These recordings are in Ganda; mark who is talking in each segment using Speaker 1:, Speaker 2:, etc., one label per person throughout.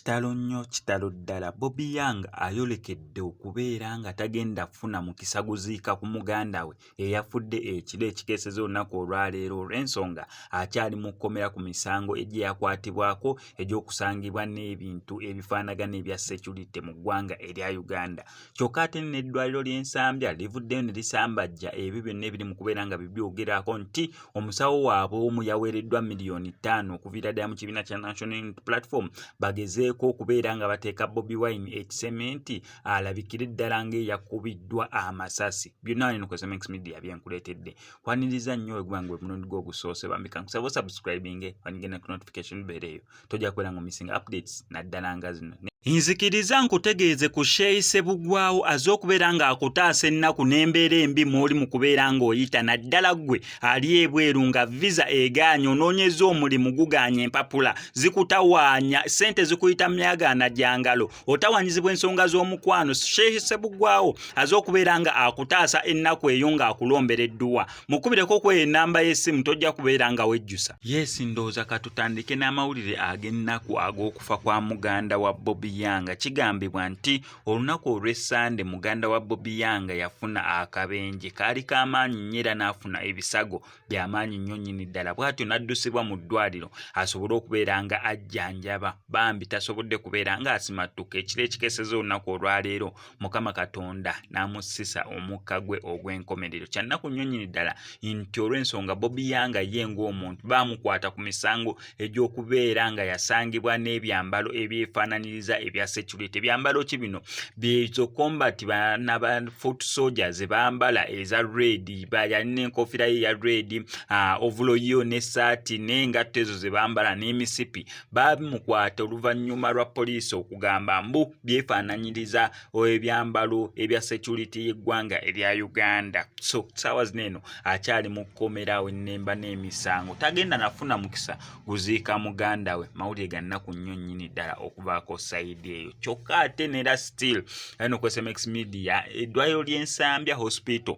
Speaker 1: kitalo nnyo kitalo ddala bobi young ayolekedde okubeera nga tagenda kufuna mukisa guziika ku muganda we eyafudde ekiro ekikeeseza olunaku olwaleero olw'ensonga akyali mu kkomera ku misango egye yakwatibwako egy'okusangibwa n'ebintu ebifaanagana ebya securite mu ggwanga erya uganda kyokka ate n'eddwaliro ly'ensambya livuddeyo ne lisambajja ebyo byonna ebiri mu kubeera nga bibyogerako nti omusawo waabwe omu yaweereddwa miliyoni ttaano okuviira ddala mu kibiina kya national platform bagezeeko okubeera nga bateeka bobi wine ekisementi alabikire ddala ng'eyakubiddwa amasasi byonna wano eno kwesoma media byenkuleetedde kwaniriza nnyo weguba nga omulundi gwo ogusoose bambi kankusaba osubscribinge wanigenda ku notification beera eyo tojja kubeera nga omissing updates naddala nga zino nzikiriza nkutegeeze ku sheeyi sebugwawo aze okubeera ng'akutaasa ennaku n'embeera embi mw'oli mu kubeera ng'oyita naddala ggwe ali ebweru nga visa egaanya onoonyeza omulimu gugaanya empapula zikutawaanya ssente zikuyita myagaana gya ngalo otawanyizibwa ensonga z'omukwano sheikh sebugwawo aze okubeera nga akutaasa ennaku eyo ng'akulombera edduwa mukubireko okweyo enamba y'essimu tojja kubeera nga wejjusa yesi ndowooza katutandike n'amawulire ag'ennaku ag'okufa kwa muganda wa bobi yanga kigambibwa nti olunaku olw'essande muganda wa bobi yanga yafuna akabenje kaali k'amaanyi nnyo era n'afuna ebisago bya maanyi nnyo nnyini ddala bw'atyo n'addusibwa mu ddwaliro asobole okubeera nga ajjanjaba bambi tasobodde kubeera ng'asimattuka ekiro ekikeseza olunaku olwaleero mukama katonda n'amussisa omukka gwe ogw'enkomerero kyannaku nnyo nnyini ddala nti olw'ensonga bobi yanga ye ng'omuntu baamukwata ku misango egy'okubeera nga yasangibwa n'ebyambalo ebyefaananyiriza ebya security ebyambalo ki bino byezo combat banaba foot soldier ze bambala eza red bayali n'enkofiira ye ya red ah, ovulo yo n'essaati n'engatto ezo ze bambala n'emisipi bamukwata oluvannyuma lwa poliisi okugamba mbu byefaananyiriza ebyambalo ebya security y'eggwanga erya uganda so saawa zino eno akyali mu kkomera awo ennemba n'emisango tagenda nafuna mukisa guziika muganda we mawulire ga nnaku nnyo nnyini ddala okubaako sayidi eyo kyokka ate nera still ayina okwesmx media eddwaliro ly'ensambya hospital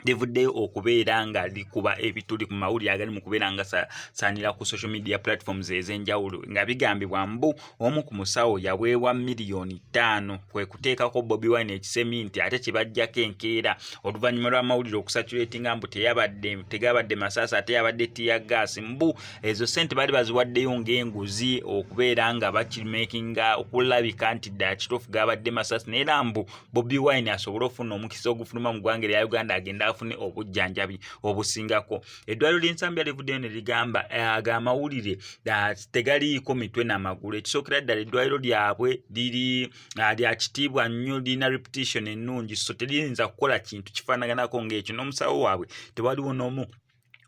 Speaker 1: livuddeyo okubeera nga likuba ebituli ku mawulire agali mu kubeera nga saanira ku social media platforms ez'enjawulo nga bigambibwa mbu omu ku musawo yaweebwa miliyoni ttaano kwe kuteekako bobi wine ekisemi nti ate kye bajjako enkeera oluvannyuma lw'amawulire okusatulatinga mbu teyabadde tegabadde masaasi ate yabadde tiya gaasi mbu ezo ssente baali baziwaddeyo ng'enguzi okubeera nga bakimakinga okulabika nti ddala kituufu gabadde masaasi naye era mbu bobi wine asobole ofuna omukisa ogufuluma mu ggwanga erya uganda agende afune obujjanjabi obusingako eddwaliro ly'ensambi alivuddeyo ne ligamba eh, aga amawulire ah, tegaliiko mitwe n'amagulu ekisookera ddala eddwaliro lyabwe liri ah, lya kitiibwa nnyo lirina repetition ennungi so teriyinza kukola kintu kifaanaganako ng'ekyo n'omusawo waabwe tewaliwo n'omu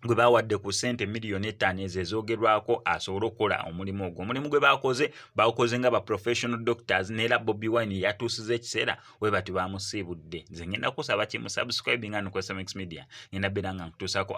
Speaker 1: gwe baawadde ku ssente miliyoni ettaano ezo ezoogerwako asobole okukola omulimu ogwo omulimu gwe baakoze baakoze nga ba professional doctors neera bobi wine yatuusiza ekiseera we bati baamusiibudde nze ngenda kusaba kimu subscribinga nokosmx media ngenda beera nga nkutuusaako